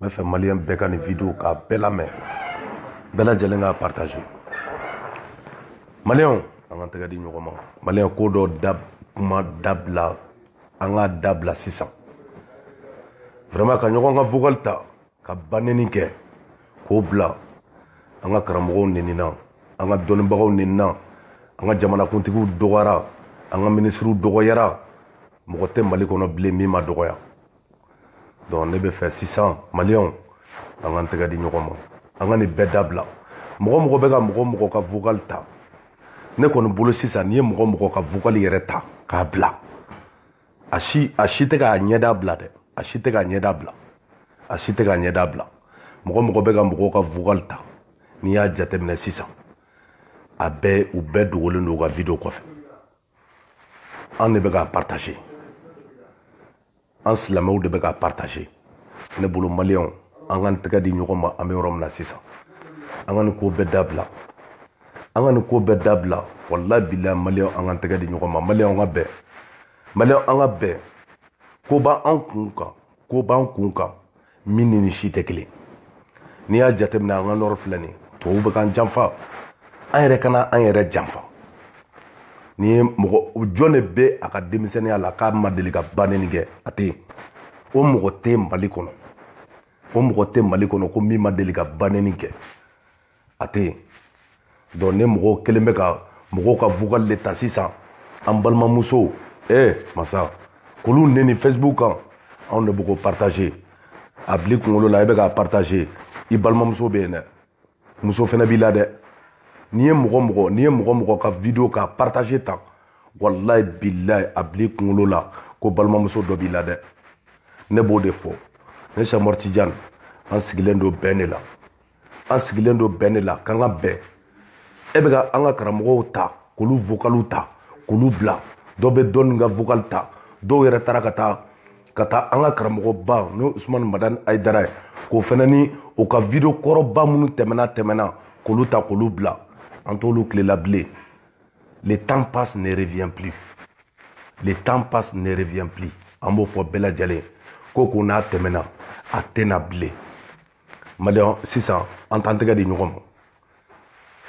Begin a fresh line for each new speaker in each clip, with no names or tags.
n b'a fɛ maliyɛn bɛɛ ka nin video k'a bɛɛ lamɛn bɛɛ lajɛlen k'a partage maliyɛnw an k'an tɛgɛ di ɲɔgɔn ma maliyɛn ko dɔ da kuma dabila an k'a dabila sisan vraiment ka ɲɔgɔn ka vocal ta ka baneni kɛ k'o bila an ka karamɔgɔw nenina an ka dɔnnibagaw nenina an ka jamanakuntigiw dɔgɔyara an ka minisiriw dɔgɔyara mɔgɔ tɛ mali kɔnɔ bilen min ma dɔgɔya donc ne b'a fɛ sisan maliyɛnw an k'an tɛgɛ di ɲɔgɔn ma an ka nin bɛɛ dabila mɔgɔ mɔgɔ bɛ ka mɔgɔ mɔgɔ ka vocal ta ne kɔni bolo sisan n'i ye mɔgɔ mɔgɔ ka vocal yɛrɛ ta k'a bila a si a si tɛ k'a ɲɛda bila dɛ a si tɛ k'a ɲɛda bila a si tɛ k'a ɲɛda bila mɔgɔ mɔgɔ bɛ ka mɔgɔw ka vocal ta n'i y'a jateminɛ sisan a bɛɛ u bɛɛ dogolen don u ka video kɔfɛ an de bɛ k'a partage an silamɛw de bɛ k'a partage ne bolo maliyɛnw an k'an tɛgɛ di ɲɔgɔn ma an bɛ yɔrɔ min na sisan an ka nin ko bɛɛ dabila an ka nin ko bɛɛ dabila walayi bilayi maliyɛnw an k'an tɛgɛ di ɲɔgɔn ma maliyɛnw ka bɛn maliyɛnw an ka bɛn ko b'an kun kan ko b'an kun kan min ni nin si tɛ kelen n'i y'a jateminɛ an ka nɔrɔ filɛ nin ye tubabu bɛ k'an janfa an yɛrɛ kana an yɛrɛ janfa n'i ye mɔgɔ jɔn de bɛ a ka denmisɛnninya la k'a ma deli ka baneni kɛ a tɛ yen o mɔgɔ tɛ mali kɔnɔ o mɔgɔ tɛ mali kɔnɔ ko min ma deli ka baneni kɛ a tɛ yen donc ne mɔgɔw kɛlen bɛ ka mɔgɔw ka vocal de ta sisan an balimamusow ee masa k'olu neni facebook kan anw de bɛ k'o partager a bil'i kunkolo la e bɛ k'a partager i balimamuso bɛ yen dɛ muso fana b'i la dɛ n'i ye mɔgɔ mɔgɔ n'i ye mɔgɔ mɔgɔ ka video k'a partager tan walayi bilayi a bil'i kunkolo la ko balimamuso dɔ b'i la dɛ ne b'o de fɔ ne sɛki umaru tijan an sigilen don bɛn de la an sigilen don bɛn de la k'an ka bɛn e bɛ ka an ka karamɔgɔw ta k'olu vokaliw ta k'olu bila dɔ bɛ dɔɔni ka vokali ta dɔw yɛrɛ taara ka taa ka taa an ka karamɔgɔba n'o usumani madani ayidara ye k'o fana neni u ka video kɔrɔba minnu tɛmɛna tɛmɛna k'olu ta k'olu bila an t'olu tile la bilen le temps passé ne revient plus le temps passé ne revient plus an b'o fɔ bɛɛ lajɛlen ko ko n'a tɛmɛna a tɛ na bilen maliyɛn sisan an t'an tɛgɛ di ɲɔgɔn ma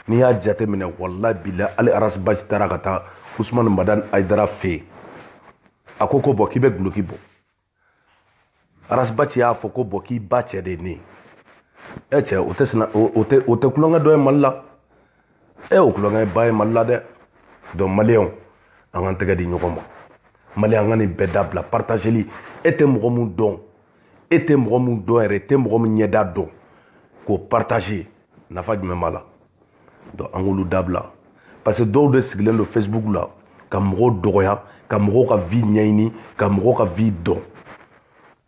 n'i y'a jate minɛ walayi bilayi hali ras bath taara ka taa usumani madan ayidara fɛ yen a ko ko bon k'i bɛ duloki bɔ ras bath y'a fɔ ko bon k'i ba cɛ de ye ne ye ɛ cɛ o tɛ sina o tɛ o tɛ kulonkɛ dɔ ye mali la ɛ o kulonkɛ ba ye mali la dɛ donc maliyɛnw an k'an tɛgɛ di ɲɔgɔn ma maliyɛn an ka nin bɛɛ dabila partageli e tɛ mɔgɔ min dɔn e tɛ mɔgɔ min dɔn yɛrɛ e tɛ mɔgɔ min ɲɛda dɔn k'o partager nafa jumɛn b'a la donc an k'olu dabila parce que dɔw de sigilen don facebook la ka mɔgɔw dɔgɔya ka mɔgɔw ka vie ɲɛɲini ka mɔgɔw ka vie dɔn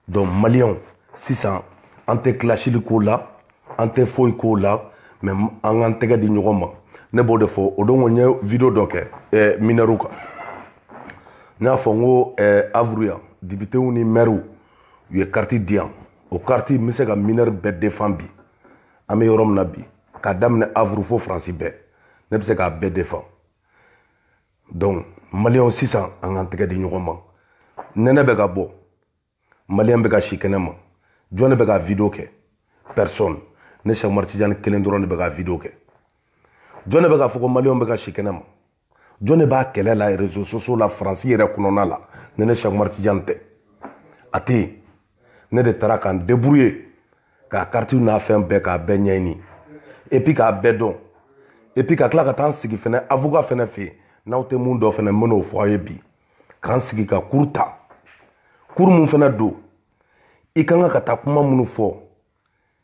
donc maliyɛnw sisan an tɛ kilasili k'o la an tɛ foyi k'o la mais an k'an tɛgɛ di ɲɔgɔn ma ne b'o de fɔ o don ko n ye video dɔ kɛ eh, minɛriw kan n y'a fɔ n ko eh, avuru yan depitew ni mɛriw u ye kariti di yan o kariti n bɛ se ka minɛri bɛɛ defan bi an bɛ yɔrɔ min na bi k'a daminɛ avuru fo faransi bɛɛ ne bɛ se k'a bɛɛ defan donc maliyɛnw sisan an k'an tɛgɛ di ɲɔgɔn ma nɛnɛ bɛ ka bɔ maliyɛn bɛ ka si kɛnɛ ma jɔn de bɛ ka video kɛ personne ne sɛk umar tijani kelen dɔrɔn de bɛ ka video kɛ jɔn de bɛ k'a fɔ ko maliyɛnw bɛ ka si kɛnɛ ma jɔn de b'a kɛlɛ la réseaux sociaux la faransi yɛrɛ kɔnɔna la ni ne sɛk umar tijani tɛ a tɛ yen ne de taara ka n débrouiller k'a karitiw n'a fɛn bɛɛ k'a bɛɛ ɲɛɲini et puis k'a bɛɛ dɔn et puis ka tila ka taa n sigi fɛnɛ avocat fɛnɛ fɛ yen n'aw tɛ mun dɔn fɛnɛ n bɛn'o fɔ aw ye bi k'an sigi ka cours ta cours mun fɛnɛ don i ka kan ka taa kuma minnu fɔ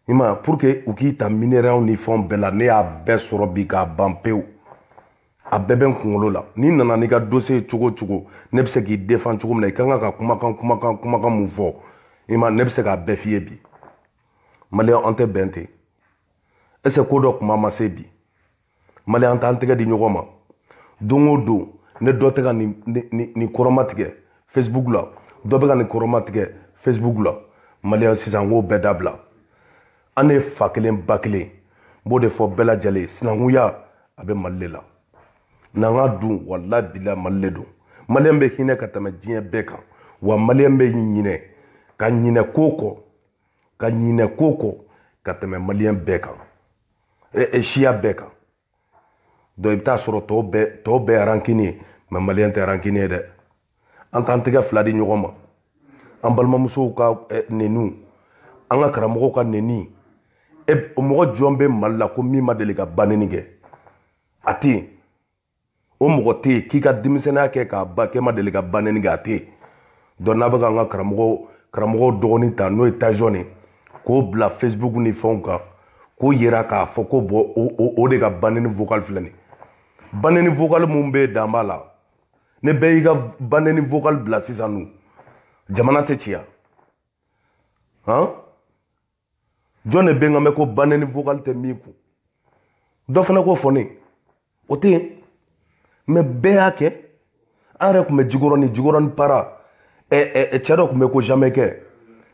i ma pour que u k'i ta minɛriw ni fɛnw bɛɛ la ne y'a bɛɛ sɔrɔ bi k'a ban pewu a bɛɛ bɛ n kunkolo la n'i nana n'i ka dossier cogo o cogo ne bɛ se k'i defan cogo min na i ka kan ka kumakan kumakan kumakan mun fɔ i ma ne bɛ se k'a bɛɛ f'i ye bi maliyɛn an tɛ bɛn ten est-ce que dɔ kuma ma se bi maliyɛn an t'an tɛgɛ di ɲɔgɔn ma don o don ni dɔ tɛ ka nin kɔrɔmatigɛ facebook la dɔ bɛ ka nin kɔrɔmatigɛ facebook la maliyɛn sisan k'o bɛɛ dabila an ye fa kelen ba kelen n b'o de fɔ bɛɛ lajɛlen sinankunya a bɛ mali le la n'an ka dun walahi bilahi mali le don maliyɛn bɛ hinɛ ka tɛmɛ diɲɛ bɛɛ kan wa maliyɛn bɛ ɲinɛ ka ɲinɛ ko kɔ ka ɲinɛ ko kɔ ka tɛmɛ maliyɛn bɛɛ kan siya bɛɛ kan donc i bɛ taa sɔrɔ tɔw bɛɛ tɔw bɛɛ arankini ye mais maliyɛn tɛ arankini ye dɛ an t'an tɛgɛ fila di ɲɔgɔn ma an balimamusow ka neniw an ka karamɔgɔw ka neni e mɔgɔ jɔn bɛ mali la ko min ma deli ka baneni kɛ a tɛ yen o mɔgɔ tɛ yen k'i ka denmisɛnninya kɛ k'a ban k'e ma deli ka ba neni kɛ a tɛ yen donc n'a bɛ ka an ka karamɔgɔ karamɔgɔw dɔgɔnin ta n'o ye tajɔn ye k'o bila facebook ni fɛnw kan k'o yira k'a fɔ ko bon o de ka ba neni vocal filɛ nin ba neni vocal minnu bɛ yen dan b'a la ni bɛɛ y'i ka ba neni vocal bila sisan dun jamana tɛ ci yan han jɔn de bɛ n ka mɛn ko ba neni vocal tɛ min kun dɔ fana k'o fɔ ne ye o tɛ yen mais bɛɛ y'a kɛ an yɛrɛ tun bɛ jikɔrɔni jikɔrɔni para cɛ dɔ tun bɛ ko jamɛkɛ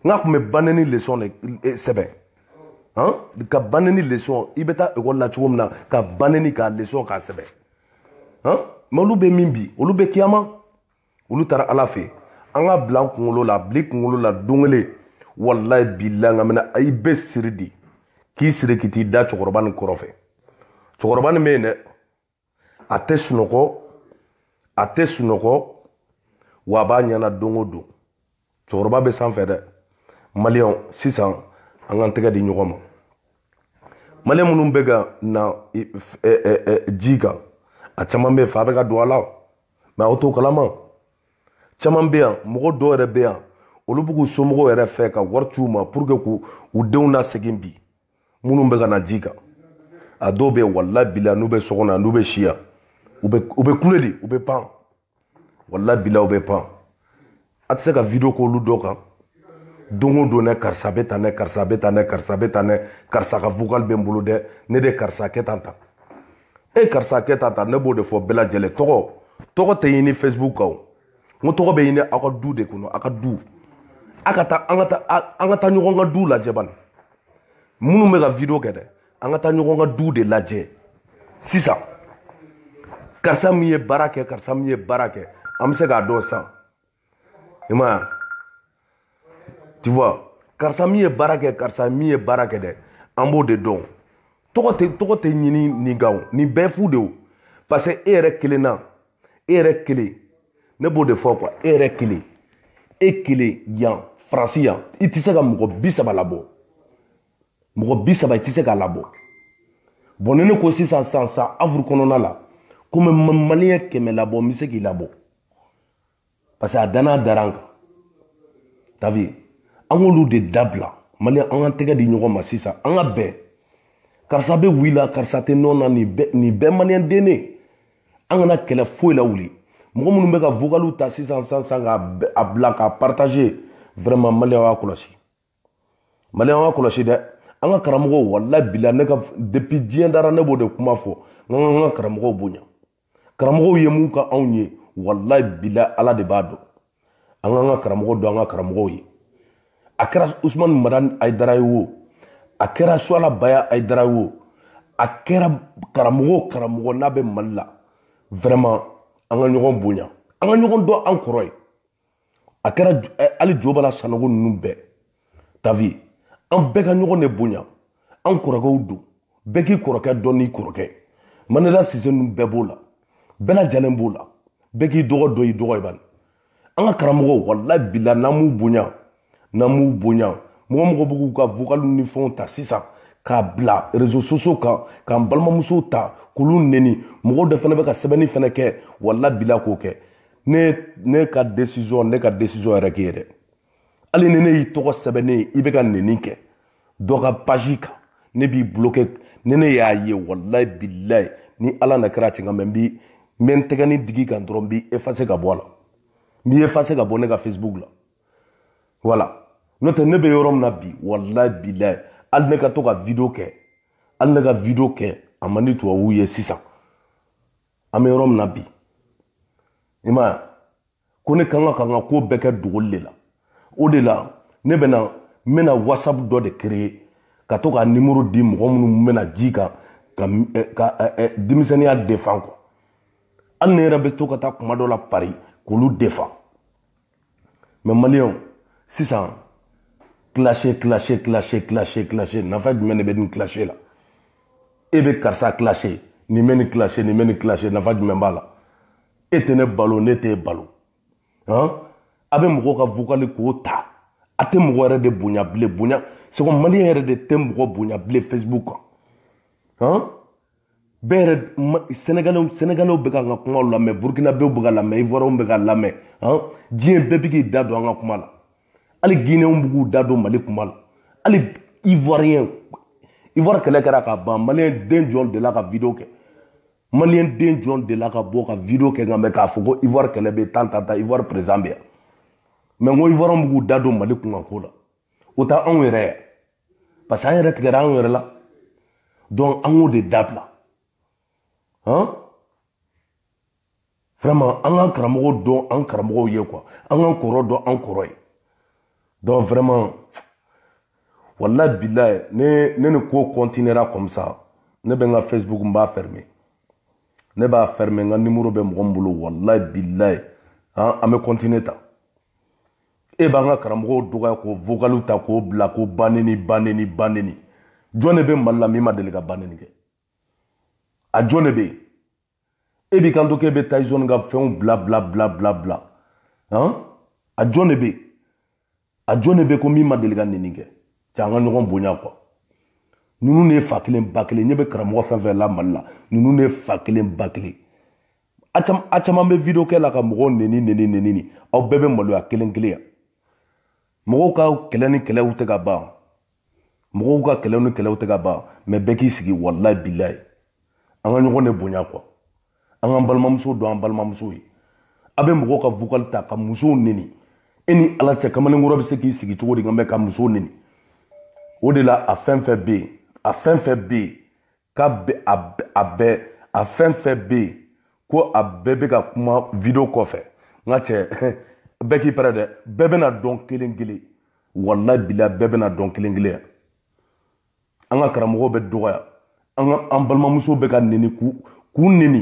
n ka tun bɛ ba neni leçon de sɛbɛn ka ba neni leçon i bɛ taa ekɔli la cogo min na ka ba neni k'a leçon k'a sɛbɛn mais olu bɛ min bi olu bɛ kiyama olu taara ala fɛ an k'a bila an kunkolo la bila i kunkolo la don kelen walayi bilayi nka mɛna i bɛ siri de k'i siri k'i t'i da cɛkɔrɔba nin kɔrɔfɛ cɛkɔrɔba nin bɛ yen dɛ a tɛ sunɔgɔ a tɛ sunɔgɔ wa a b'a ɲɛna don o don cɛkɔrɔba bɛ sanfɛ dɛ maliyɛnw sisan an k'an tɛgɛ di ɲɔgɔn ma maliyɛn minnu bɛ ka na ji kan a caman bɛ yen fa bɛ ka don a la mais aw t'o kalama caman bɛ yan mɔgɔ dɔw yɛrɛ bɛ yan olu b'u somɔgɔw yɛrɛ fɛ ka wari ci u ma pour que k'u u denw lasegin bi minnu bɛ ka na ji kan a dɔw bɛ yen walayi bilayi n'u bɛ so kɔnɔ n'u bɛ si yan u bɛ kule de u bɛ pan walayi bilayi u bɛ pan a tɛ se ka video k'olu dɔ kan don o don dɛ karisa bɛ tan dɛ karisa bɛ tan dɛ karisa bɛ tan dɛ karisa ka vocal bɛ n bolo dɛ ne de karisa kɛ tan tan e eh, karisa kɛ tan tan ne b'o de fɔ bɛɛ lajɛlen tɔgɔ tɔgɔ tɛ ɲini facebook kan o n ko tɔgɔ bɛ ɲini aw ka du de kɔnɔ aw ka du an ka taa an ka taa an ka taa ɲɔgɔn ka du lajɛ bani minnu bɛ ka video kɛ dɛ an ka taa ɲɔgɔn ka du de lajɛ sisan karisa min ye baara kɛ karisa min ye baara kɛ an bɛ se k'a dɔn sans i m'a ye tu vois karisa min ye baara kɛ karisa min ye baara kɛ dɛ an b'o de dɔn tɔgɔ tɛ tɔgɔ tɛ ɲini nin kan o nin bɛɛ fu de o parce que e yɛrɛ kelen na e yɛrɛ kelen ne b'o de fɔ quoi e yɛrɛ kelen e kelen yan faransi yan i tɛ se ka mɔgɔ bi saba labɔ mɔgɔ bi saba i tɛ se k'a labɔ bon ni ne ko sisan san san avuru kɔnɔna la ko n bɛ maliyɛn kɛmɛ labɔ n bɛ se k'i labɔ parce que a danna dara n kan t'as vu an k'olu de dabila maliyɛn an k'an tɛgɛ di ɲɔgɔn ma sisan an ka bɛn karisa bɛ oui la karisa tɛ non na nin bɛɛ maliyɛn den ne an kana kɛlɛ foyi la wuli mɔgɔ minnu bɛ ka vokaliw ta sisan sisan k'a bila k'a partager vraiment maliyɛn y'a kɔlɔsi maliyɛn an k'a kɔlɔsi dɛ an ka karamɔgɔw walayi bilayi ne ka depuis diɲɛ dara ne b'o de kuma fɔ an k'an ka karamɔgɔw bonya karamɔgɔw ye mun kɛ anw ye walayi bilayi ala de b'a dɔn an k'an ka karamɔgɔ dɔn an ka karamɔgɔw ye a kɛra usmani madani ayidara ye wo a kɛra suala baya ayidara ye wo a kɛra karamɔgɔ karamɔgɔ n'a bɛ mali la vraiment an ka ɲɔgɔn bonya an ka ɲɔgɔn dɔn an kɔrɔ ye a kɛra eh, hali jo bala sanogo ninnu bɛɛ t'as vu an bɛɛ ka ɲɔgɔn de bonya an kɔrɔkɛw don bɛɛ k'i kɔrɔkɛ dɔn n'i kɔrɔkɛ manela sise ninnu bɛɛ b'o la bɛɛ lajɛlen b'o la bɛɛ k'i dɔgɔ dɔn i dɔgɔ ye bani an ka karamɔgɔw walayi bila n'an m'u bonya n'an m'u bonya mɔgɔ mɔgɔ bɛ k'u ka vokalu ni fɛnw ta sisan k'a bila rezo sosiyo kan k'an balimamusow ta k'olu neni mɔgɔw de fana bɛ ka sɛbɛnni fana kɛ walayi bilayi k'o kɛ ne ne ka desizɔn ne ka desizɔn yɛrɛ k'i ye dɛ hali ni ne y'i tɔgɔ sɛbɛnnen ye i bɛ ka neni kɛ dɔ ka pazi kan ne b'i bulokɛ ni ne y'a ye walayi bilayi ni ala na kɛra cɛn kan mɛ n bi n bɛ n tɛgɛni digi kan dɔrɔn n b'i efase ka bɔ a la n b'i efase ka bɔ ne ka facebook la wala n'o tɛ ne bɛ yɔrɔ min na bi walayi bilayi hali ne ka to ka video kɛ hali ne ka video kɛ a man di tubabuw ye sisan an bɛ yɔrɔ min na bi i m'a ye ko ne kan ka ka n ka ko bɛɛ kɛ dogoli de la o de la ne bɛ na n bɛna whatsapp dɔ de créer ka to ka nimoro di mɔgɔ minnu bɛ na ji kan ka eh, ka eh, eh, denmisɛnninya defan quoi hali ne yɛrɛ bɛ to ka taa kuma dɔ la pari k'olu defan mɛ maliyɛnw sisan kilase kilase kilase kilase kilase nafa jumɛn de bɛ nin kilase la e bɛ karisa kilase nin bɛ nin kilase nin bɛ nin kilase nafa jumɛn b'a la e tɛ ne balo ne t'e balo han a bɛ mɔgɔw ka vokali k'o ta a tɛ mɔgɔ yɛrɛ de bonya bilen bonya c'est que maliyɛn yɛrɛ de tɛ mɔgɔ bonya bilen facebook kan han bɛɛ yɛrɛ sɛnɛgalɛw sɛnɛgalɛw bɛ k'an ka kumaw lamɛn burukinabew bɛ k'a lamɛn ivoiriyɛnw bɛ k'a lamɛn han diɲɛ bɛɛ bɛ k'i da don an ka kuma la hali gineyɛnw bɛ k'u da don mali kuma la hali ivoiriyɛn ivoire kɛlɛ kɛra ka ban maliyɛn den jɔn delila ka video kɛ maliyɛn den jɔn delila ka bɔ ka video kɛ nka mɛ k'a fɔ ko ivoire kɛlɛ bɛ tan tan tan ivoire président bɛ yan mɛ n ko ivoiriyɛnw bɛ k'u da don mali kunkanko la o ta anw yɛrɛ yan parce que an yɛrɛ tigɛra anw yɛrɛ la donc an k'o de dabila han vraiment an k'an karamɔgɔw dɔn an karamɔgɔw ye quoi an k'an kɔrɔ dɔn an kɔrɔ ye donc vraiment walayi bilayi ne ne ni ko continuera comme ça ne bɛ n ka facebook n b'a ferme ne b'a ferme n ka nimoro bɛ mɔgɔ min bolo walayi bilayi an bɛ continuer ta e b'an ka karamɔgɔw dɔgɔya k'o vokalu ta k'o bila ko baneni baneni baneni jɔn de bɛ mali la min ma deli ka baneni kɛ a jɔn de bɛ yen e b'i kanto k'e bɛ taizɔni ka fɛnw bila bila bila bila bila han a jɔn de bɛ yen a jɔn de bɛ ko min ma deli ka neni kɛ cɛ an ka ɲɔgɔn bonya kuwa ninnu de ye fa kelen ba kelen ɲɛ bɛ karamɔgɔ fɛn fɛn la mali la ninnu de ye fa kelen ba kelen a caman a caman bɛ video kɛ la ka mɔgɔw neni neni neni aw bɛɛ bɛ maloya kelen kelen yan mɔgɔw ka kɛlɛ ni kɛlɛw tɛ ka ban mɔgɔw ka kɛlɛ ni kɛlɛw tɛ ka ban mais bɛɛ k'i sigi walayi bilayi an ka ɲɔgɔn de bonya quoi an k'an balimamuso dɔn an balimamuso ye a bɛ mɔgɔw ka vocal ta ka musow neni e ni ala cɛ kamalenkɔrɔ bɛ se k'i sigi cogo di nka mais ka musow neni o de la a fɛn fɛn bɛ yen a fɛn fɛn bɛ yen k'a bɛ a a bɛɛ a fɛn fɛn bɛ yen ko a bɛɛ bɛ ka kuma video kɔfɛ n ka cɛ bɛɛ k'i pɛrɛ dɛ bɛɛ bɛna dɔn kelen kelen walayi bilayi bɛɛ bɛna dɔn kelen kelen yan an ka karamɔgɔw bɛ dɔgɔya an ka an balimamuso bɛ ka neni k'u k'u neni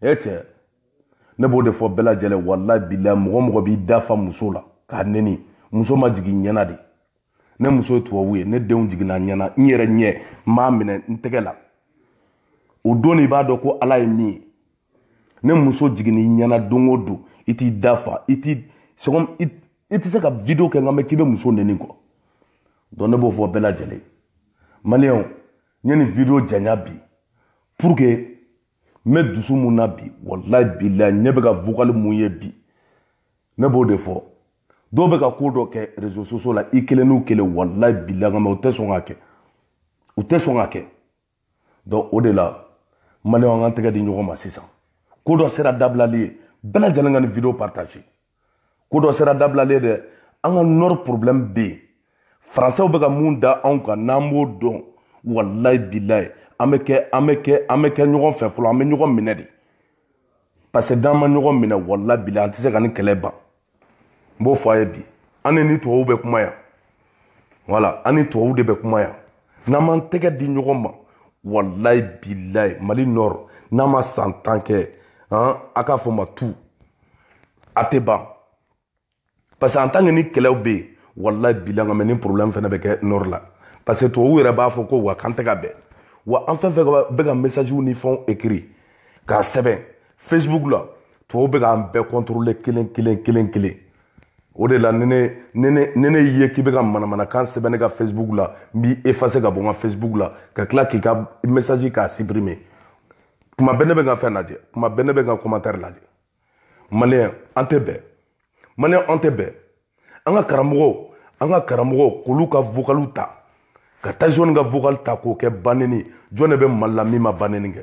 e cɛ ne b'o de fɔ bɛɛ lajɛlen walayi bilayi mɔgɔ mɔgɔ b'i da fa muso la k'a neni muso ma jigin i ɲɛna de ne muso ye tubabu ye ne denw jiginna n ɲɛna n yɛrɛ ɲɛ n b'a minɛ n tɛgɛ la o don i b'a dɔn ko ala ye min ye ni muso jiginna i ɲɛna don o don i t'i da fa i t'i sɔgɔm i i tɛ se ka video kɛ nka mais k'i bɛ muso neni quoi donc ne b'o fɔ bɛɛ lajɛlen maliyɛnw n ye nin video janya bi pour que n bɛ dusu mun na bi walayi bilayi ne bɛ ka vocal mun ye bi ne b'o de fɔ dɔw bɛ ka ko dɔ kɛ réseaux sociaux la i kelen n'u kelen walayi bilayi mais u tɛ sɔn k'a kɛ u tɛ sɔn k'a kɛ donc o de la maliyɛnw an k'an tɛgɛ di ɲɔgɔn ma sisan ko dɔ sera dabilali ye bɛɛ lajɛlen ka nin video partager ko dɔ sera dabilali ye dɛ an ka nord problème bɛ yen faransɛw bɛ ka mun da anw kan n'an b'o dɔn walayi bilayi an bɛ kɛ an bɛ kɛ an bɛ kɛ ɲɔgɔn fɛ fɔlɔ an bɛ ɲɔgɔn minɛ de parce que n'an ma ɲɔgɔn minɛ walayi bilayi an tɛ se ka nin kɛlɛ ban n b'o fɔ a ye bi an ni ni tubabuw bɛ kuma yan voilà an ni tubabuw de bɛ kuma yan n'an m'an tɛgɛ di ɲɔgɔn ma walayi bilayi mali nord n'a ma san tan kɛ han a k'a fɔ ma tu a tɛ ban parce que en tant que nin kɛlɛw bɛ yen walayi bilayi nka mais nin problème fana bɛ kɛ nord la parce que tubabuw yɛrɛ b'a fɔ quoi k'an tɛ ka bɛn wa an fɛn fɛn bɛ ka message ni fɛnw écrit k'a sɛbɛn facebook la tubabuw bɛ k'an bɛɛ contrôler kelen kelen kelen kelen o de la ni ne ye k'i bɛ ka manamanakan sɛbɛn ne ka facebook la n b'i effacer ka bɔ n ka facebook la ka tila k'i ka message k'a supprimer kuma bɛɛ ne bɛ n ka fɛn lajɛ kuma bɛɛ ne bɛ n ka commentaire lajɛ maliyɛn an tɛ bɛn maliyɛn an tɛ bɛn an ka karamɔgɔw an ka karamɔgɔw k'olu ka vocaliw ta ka tyson ka vocal ta k'o kɛ baneni jɔn de bɛ mali la min ma baneni kɛ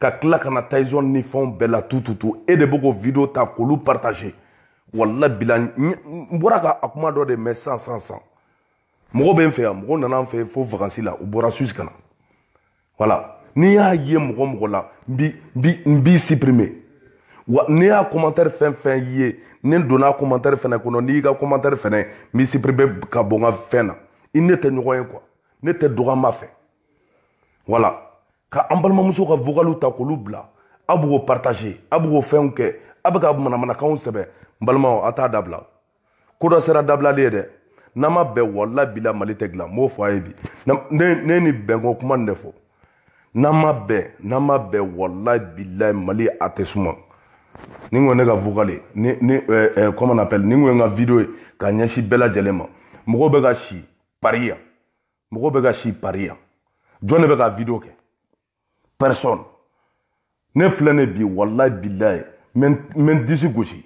ka tila ka na tyson ni fɛnw bɛɛ la tututu e de bɛ k'o video ta k'olu partager walayi bilayi n bɔra ka a kuma dɔ de mɛn san san san mɔgɔ bɛ n fɛ yan mɔgɔ nana n fɛ fo vakansi la u bɔra suisse ka na voilà ni n y'a ye mɔgɔ mɔgɔ la n bi n bi n b'i supprimer wa ni n y'a commentaire fɛn fɛn ye ni n donna commentaire fɛnɛ kɔnɔ ni n y'i ka commentaire fɛnɛ n b'i supprimer ka bɔ n ka fɛn na i ne tɛ ɲɔgɔn ye quoi ne tɛ dɔgɔya fɛ voilà ka an balimamuso ka vocaliw ta k'olu bila a b'o partager a b'o fɛnw kɛ a bɛ ka manamanakanw sɛbɛn n balimaw a t'a dabila ko dɔ sera dabilali ye dɛ n'an ma bɛn walayi bilayi mali tɛ dilan n b'o fɔ a ye bi ne ni bɛnko kuma nin de fɔ n'an ma bɛn n'an ma bɛn walayi bilayi mali a tɛ suma ni ko ne ka vocal ye ni ni eh, eh, comment on appelle ni ko n ka video ye ka ɲɛsin bɛɛ lajɛlen ma mɔgɔw bɛ ka si paris yan mɔgɔ bɛ ka si paris yan jɔn de bɛ ka video kɛ personne ne filɛ ne bi walayi bilayi n bɛ n disi gosi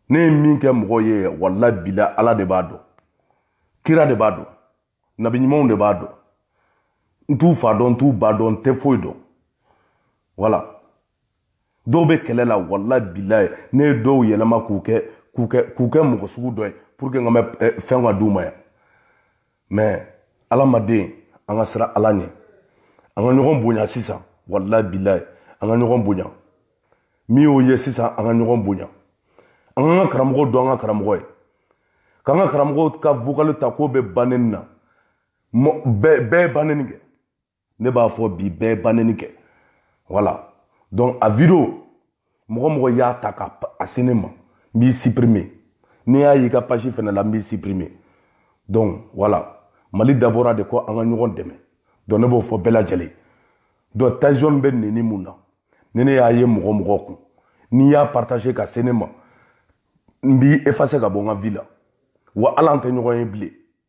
ne ye min kɛ mɔgɔ ye walayi bilayi ala de b'a dɔn kira de b'a dɔn nabi ɲumanw de b'a dɔn n t'u fa dɔn n t'u ba dɔn n tɛ foyi dɔn voilà dɔw bɛ kɛlɛ la walayi bilayi ne ye dɔw yɛlɛma k'u kɛ k'u kɛ k'u kɛ mɔgɔ sugu dɔ ye pour que n ka mɛ eh, fɛn ka d'u ma yan mais alamaden an ka siran ala ɲɛ an ka ɲɔgɔn bonya sisan walayi bilayi an ka ɲɔgɔn bonya min y'o ye sisan an ka ɲɔgɔn bonya an k'an ka karamɔgɔ dɔn an ka karamɔgɔ ye k'an ka karamɔgɔ ka vokali ta k'o bɛ baneni na bɛɛ ye baneni kɛ ne b'a fɔ bi bɛɛ ye baneni kɛ voilà donc a video mɔgɔ mɔgɔ y'a ta ka a se ne ma n b'i supprimer ni n y'a y'i ka page fɛnɛ la n b'i supprimer donc voilà mali dabɔra de ko an ka ɲɔgɔn dɛmɛ donc ne b'o fɔ bɛɛ lajɛlen donc tyson bɛ neni mun na ni ne y'a ye mɔgɔ mɔgɔ kun n'i y'a partager ka se ne ma n b'i effacer ka bɔ n ka vie la wa hali an tɛ ɲɔgɔn ye bilen